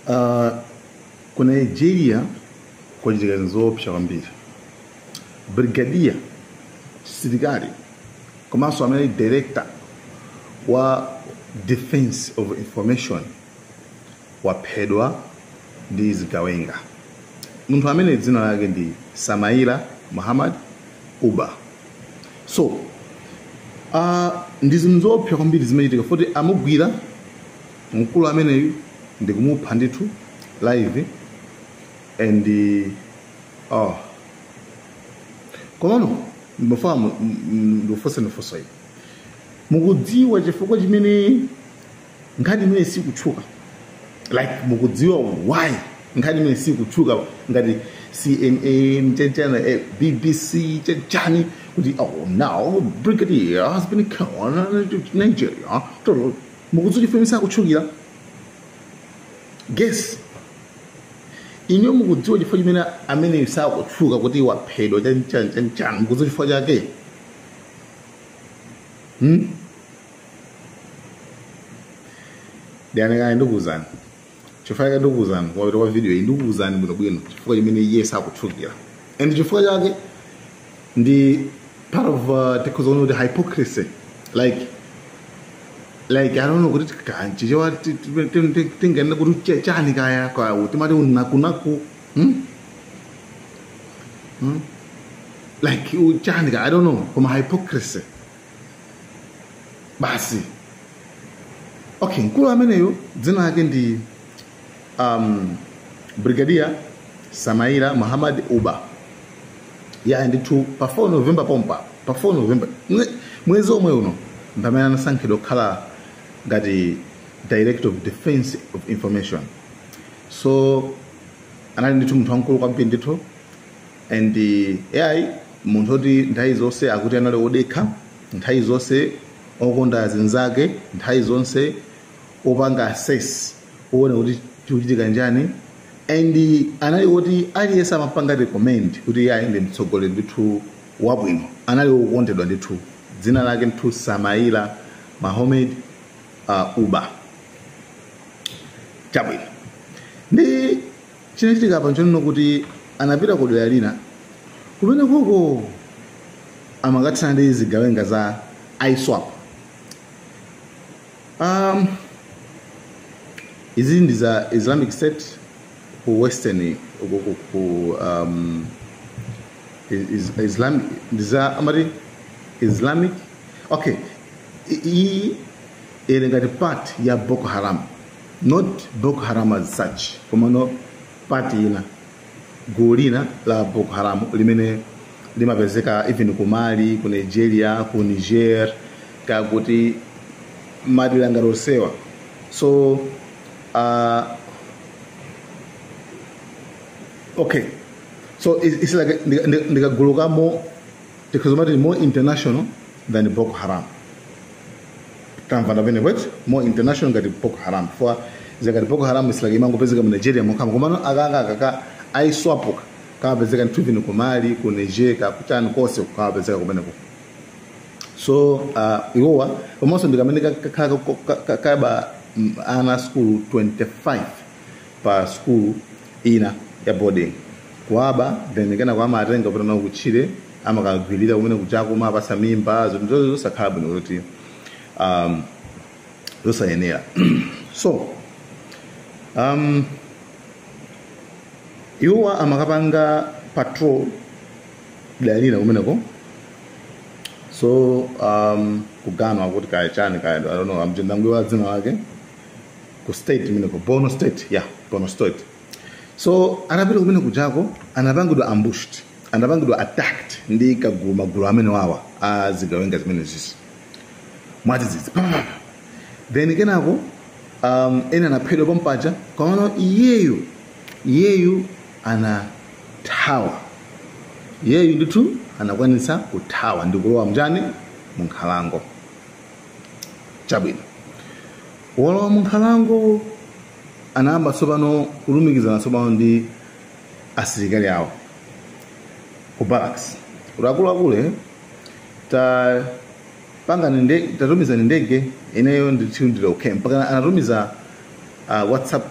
Uh, ku nigeria kwachitika zinthu zoopsa kwambiri brigadier msilikali komanso amene ali director wa defense of information waphedwa ndi zigawenga munthu amene dzina lake ndi samaila muhammad uba so uh, ndi zinthu zoopsa kwambiri zimachitika poti amugwira mkulu ameneyu ndikumupha ndithu live and oh komano ndimafuna mu- m- m- ndikufunse funso ili mukudziwa chifukwa chimene nkhani imene sikutchuka like mukudziwa why nkhani imeneyi sikutchuka ngati cnn chanichani eh, bbc chanichani kuti oh now brigadier has been killed in nigeria mukudziwa chifukwa sakutchukira guess inuyo mukudziwa chifukwa chimene ameneyu sakutchuka kuti waphedwa chanichani chanichani mukudziwa chifukwa chake hmm? ndianekane ndikuwuzani chifukwa ndikuwuzani kumapeto kwa video iyi ndikuwuzani bwinobwino chifukwa chimene iye sakutchukira and chifukwa chake ndi part of uh, tikuona kuti hypocrisy like like i don't know kuti kaya m'chichewa tinganene kuti che- chani kaya kwathu timati unakunaku hmm? hmm? like u- chani kaya i don't know koma hypocrisy basi okay mkulu ameneyo dzina lake ndi um, brigadier samaila muhammad uba ya ndithu pa 4 novemba pompa pa 4 novemba mwe- mwezi omwe uno mpamene anasankhidwa kukhala ngati director of defense of information so anali ndithu munthu wamkulu kwambiri ndithu and eh, ai munthu oti nthawi zonse akuti anali odekha nthawi zonse okonda zinzake nthawi zonse opanga assess owona kuti chikuchitika njani and anali oti aliyense amapanga recommend kuti iyeyu ndi mtsogoleri ndithu wabwino anali wokondedwa ndithu dzina lake ndithu samaila muhammad uh, uba chabwino ndi Chinachitika apa nchonena kuti anapita ku dera lina kumene kuko amakathana ndi zigawenga za ISWAP. Um, izi ndi za Islamic State ku western ku, ku, ku um, is, Islamic ndi za amati Islamic okay I- iyi ili ngati part ya Boko Haram not boko haram as such komano part ina gulu lina la boko haram limene limapezeka even ku mali ku nigeria ku niger kakuti madera ngati osewa so uh, okay so it's, it's like ndi- ndi- ndikagulu ka more tikazomati more international than boko haram tamva ndapene kwet more international ngati boko haram chifukwa zikati boko haram is like imangopezeka mu nigeria mokhamo komano akanga akaka a ISWAP aka kamapezeka nthu even ku mali ku niger kakutani konse kamapezeka kumeneko so uh, iwowa komanso ndikamene kakhala kaba ana a skulu 25 pa skulu ina ya boarding kuwaba then kenako amatenga kupita nawo kutchire amakagwirira kumene kujako kumawapatsa mimba zinthu zo- zosakhala bwino kuti um, zosayenera so um, iwowa amakapanga patrol dera lina kumeneko so um, kuganwa kuti kaya chani kaya I don't know am ndayiwala dzina lake ku state imeneyo borno state yeah borno state so atapita kumene kujako anapangidwa ambushed anapangidwa attacked ndi kagulu magulu amene wawa a zigawenga zimenezizi mwadzidzidzi pamapapa then kenako um, ena anaphedwa pompaja komano iyeyu iyeyu anathawa iyeyu ndithu anakwanitsa kuthawa ndikulowa m'njani munkhalango chabwino wolowa munkhalango anayamba tsopano kulumikizana tsopano ndi asilikali awo aku barracks kuti akuluakulu eh, tapangani nde tatumizani ndege ineyo ndithu ndili okay mpaka anatumiza uh, whatsapp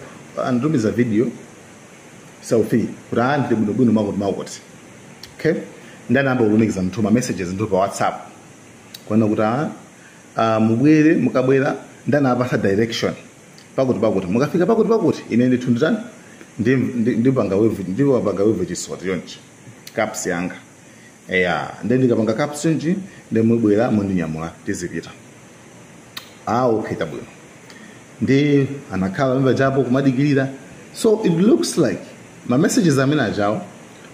anatumiza video selfie kuti aa ndili bwinobwino makuti makuti okay nde anayamba kulumikiza nthu ma messages nthu pa whatsapp kuona kuti a a mubwere mukabwera nde anawapatsa direction pakuti pakuti mukafika pakuti pakuti ine ndithu nditani ndi- ndi- ndipanga wave ndidzapanga wave chisoti chonchi caps yanga eya ndi ndikapanga caps chonchi ndi mubwera mundinyamula tizipita ah okay tabwino ndi anakhala mmene japo kumadikirira so it looks like ma messages amene ajawo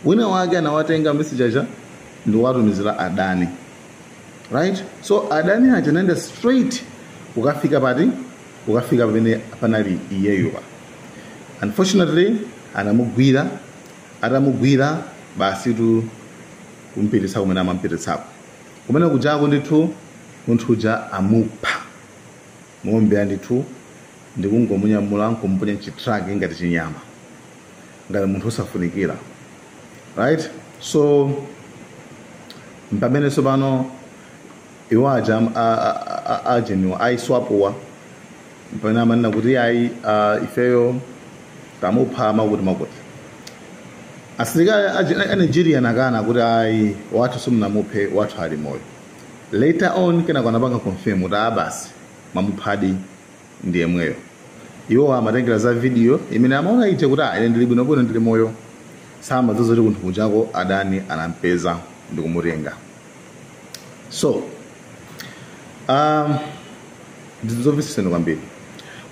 wina wake anawatenga message aja ndikuwatumizira adani right so adani aja anayenda straight kukafika pati kukafika pamene panali iyeyo pa unfortunately anamugwira atamugwira basi tu kumpititsa kumene amampititsako kumene kujako ndithu munthu uja amupha moombera ndithu ndikungomunyamula nkumponya mchitraki ngati chinyama ngati munthu osafunikira right so mpamene tsopano iwo aja am- a- a- a- a- ajeniwa aiswapuwa mpamene amanena kuti ayi ah, ifeyo tamupha makuti makuti asilikali a- a nigeria anakana kuti ayi wathu simunamuphe wathu ali moyo later on kenako anapanga confirm kuti abasi mwamuphadi ndi yemweyo. Iwo amatengera za video imene amaona ija kuti ah, ine ndili bwinobwino ndili moyo. Samadziwa zoti kunthu kujako adani anampeza ndi kumutenga. So, um, ndi zomvetsa chisoni kwambiri.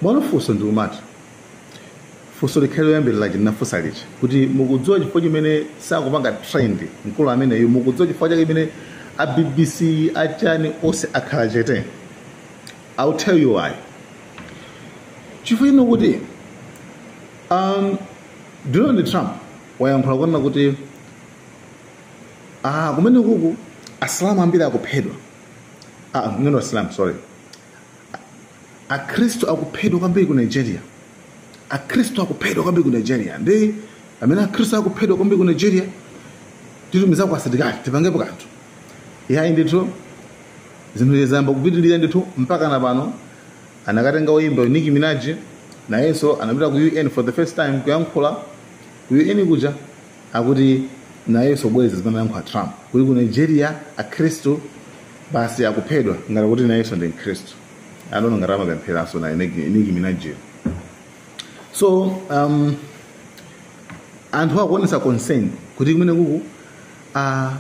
Mwina funso ndi kumati funso likhale loyambirira ndinafunsa lija kuti mukudziwa chifukwa chimene sakupanga trend mkulu ameneyu mukudziwa chifukwa chake chimene a bbc achani onse akhala chete I'll tell you why. Chifukwa chonena kuti um, Donald Trump wayankhula kunena kuti ah, kumene kuku asilamu ambiri akuphedwa ah, ngeno asilamu sorry akhristu akuphedwa kwambiri ku nigeria akhristu akuphedwa kwambiri ku nigeria ndi amene akhristu akuphedwa kwambiri ku nigeria titumizako asilikali tipangepo kanthu yayi ndithu zinthu ziyamba kupitirira ndithu mpaka na pano anakatenga woyimba Nicki Minaj nayenso anapita ku UN for the first time kuyankhula ku UN kuja akuti nayenso kubwereza zimene anayankhula Trump kuti ku Nigeria akhristu basi akuphedwa ngati kuti nayenso ndi mkhristu adono ngati amapempheranso naye Nicki Nicki Minaj so um, anthu akuonesa concern kuti kumene kuku uh,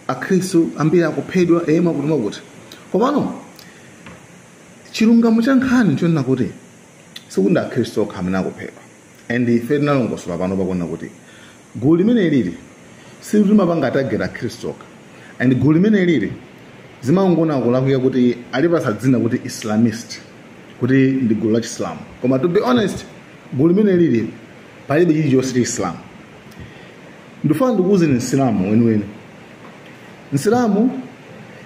akhristu ambiri akuphedwa e makuti makuti komano chilungamo cha nkhani chonena kuti sikuti ndi akhristu okha amene akuphedwa and ife tinalongosola pano ponena kuti gulu limene lili silimapanga target akhristu okha and gulu limene lili zimangokhala kulakwika kuti analipatsa dzina kuti islamist kuti ndi gulu la chisilamu koma to be honest gulu limene lili palibe chilichonse cha chisilamu ndifuna ndikuuzeni msilamu weniweni msilamu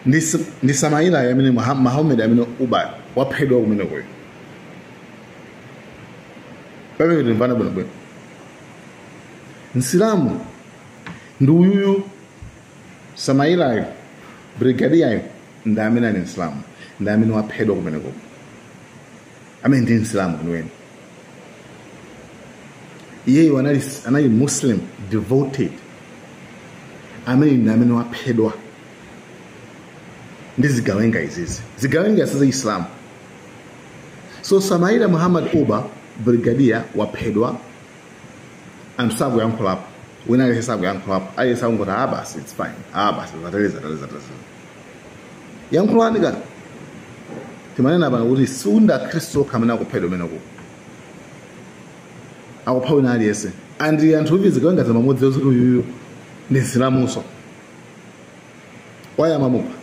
ndi s- ndi samailayo amene Muha- muhammad amene uba waphedwa kumenekoyo pamene timvana bwinobwino msilamu ndi uyuyu samailayo brigadiyayo ndi amene ali msilamu ndi amene waphedwa kumenekoyo amene ndi msilamu weniweni iyeyo anali, anali muslim devoted amene ndi amene waphedwa ndi zigawenga izizi zigawenga za chisilamu so samaila muhammad uba brigadier waphedwa anthu sakuyankhulapo wina aliyense sakuyankhulapo aliyense akungoti ah basi its fine ah basi zateleza zateleza zateleza yankhulanika timanena pano kuti siundi akhristu okha amene akuphedwa kumeneko akupha wina aliyense and anthuwo zigawengazo amamudziwa zoti uyuyu ndi msilamuso why amamupha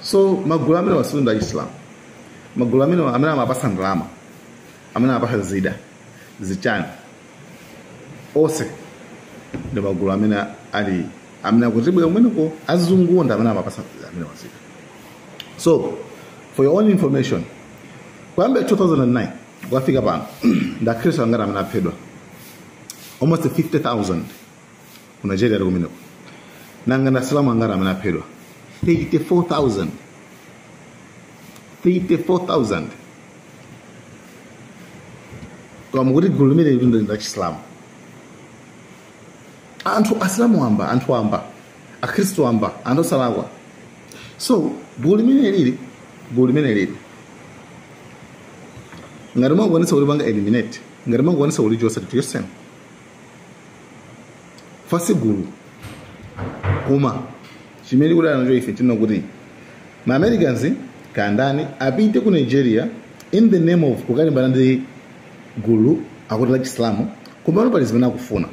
so magulu amenewa siundi achisilamu magulu amenewa amene amapasa ndalama amene amapasa zida zichani onse ndi magulu amene ali amene akutibera kumeneko azungu ndi amene amapasa amenewa zida so for your own information kuyambira 2009 kukafika pano ndi akhristu angati amene aphedwa almost 50000 ku nigeria kumeneko nanga ndi asilamu angati amene aphedwa 34000 34000 koma mukuti gulu limeneli ndi lachisilamu anthu asilamu wamba anthu wamba akhristu wamba anthu osalakwa so gulu limenelili gulu limenelili ngati mwakwanisa kulipanga eliminate ngati mwakwanisa kulichosa lichoseni fasigulu koma chimene tikudana nacho ife nchonena kuti ma americans kandani apite ku nigeria in the name of kukalimbana ndi gulu akuti la chisilamu komano pali zimene akufuna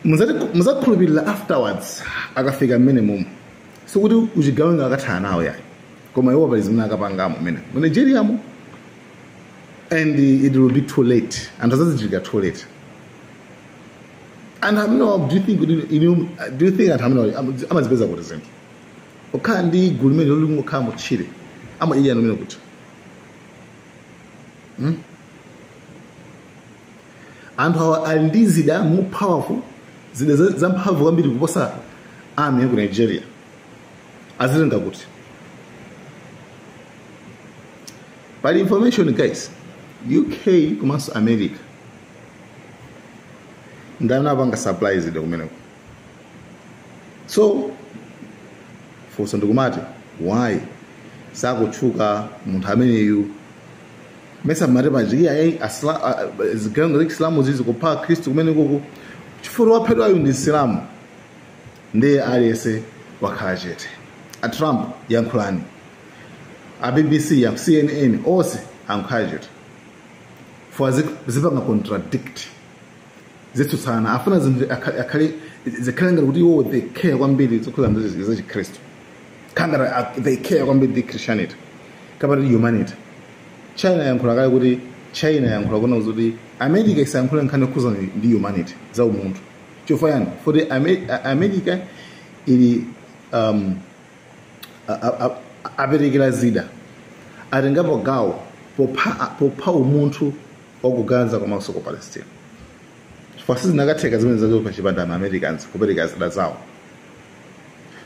Muzati- muzakhulupirira afterwards akafika mmenemumu sikuti uchigawenga akathana nawo yayi koma iwo pali zimene akapangamo mmene mu nigeriamo and it will be too late anthu azazindikira too late anthu amenewa do you think kuti inu- do you think anthu amenewa am- amazipeza kuti zinthu okhala ndi gulu limenelo likungokhala mutchire amadya anu mene kuti Hmm? anthu awa ali ndi zida more powerful zida za- zamphamvu kwambiri kuposa army ya ku nigeria azitenga kuti pali information guys uk komanso america ndi amene apanga supply zida kumeneko so funso ndikumati why sakutchuka munthu ameneyu mesa mmati paja ayi asla- a- a- zigawenga za chisilamu zikupha akhristu kumenekoko chifukwa waphedwayo ndi msilamu ndiye aliyense wakhala chete a trump yankhulani a bbc a cnn onse akhala chete fo zi- zipanga contradict zitsutsana afuna zinthu akha- akhale zikhale ngati kuti iwo they care kwambiri zokhuza ndi za chikhristu ngati a- they care kwambiri ndi christianity kapena humanity china yankhula kale kuti china yankhula kuna kuti america isayankhule nkhani yokhuza ndi- ndi humanity za umunthu chifukwa chani foti Ame- a- america ili um, a- a- a- aperekera zida atengapo gawo popha, a- popha umunthu wa ku gaza komanso ku palestina chifukwa sizinakatheka zimenezo zopha chipanda ma americans kupereka zida zawo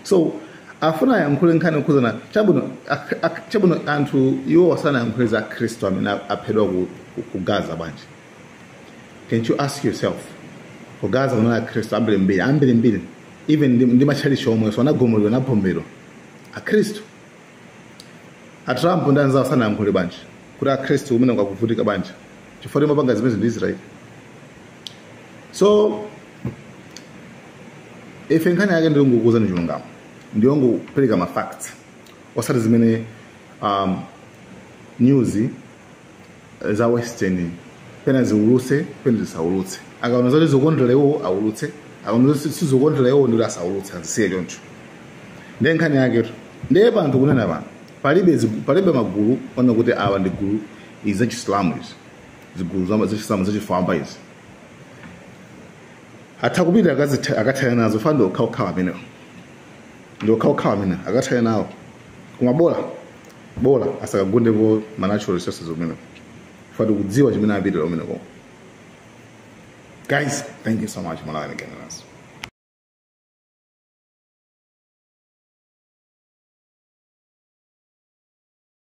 so afuna ayankhule nkhani okhuzana chabwino ak- ak- chabwino nanga iwowa sanayankhule za akhristu amene aphedwa ku, ku, ku gaza bwanji Can't you ask yourself? Ku Gaza kunali Akhristu ambirimbiri, ambirimbiri, even ndi, ndi matchalichi omwenso anagumulidwa naphomberedwa. Akhristu. A Trump ndi anzawo sanayankhule bwanji kuti Akhristu kumeneko akuvutika bwanji chifukwa imapanga zimenezi ndi Israel. So ife nkhani yake ndi yongokuwuzani chilungamo ndi yongopereka ma facts osati zimene um, news za western pena ziulutse pena zisaulutse akaona zoti zikukondera iwowo aulutse akaona zoti si- sizikukondera iwowo ndikuti asaulutse azisiye choncho ndiye nkhani yaketu ndiye panthawi kunena pano palibe zigu- palibe magulu onena kuti awa ndi zigulu izi zachisilamu izi zigulu za- zachisilamu zachifwamba izi atha kupita akazitha- akathana nazo foti ndi okhaokhawa amenewo ndi okhaokhawa amene akathana nawo koma bola bola asakagundeko ma natural resources umeneko fa tikudziwa chimene apitira umeneko guys thank you so much malawi again naso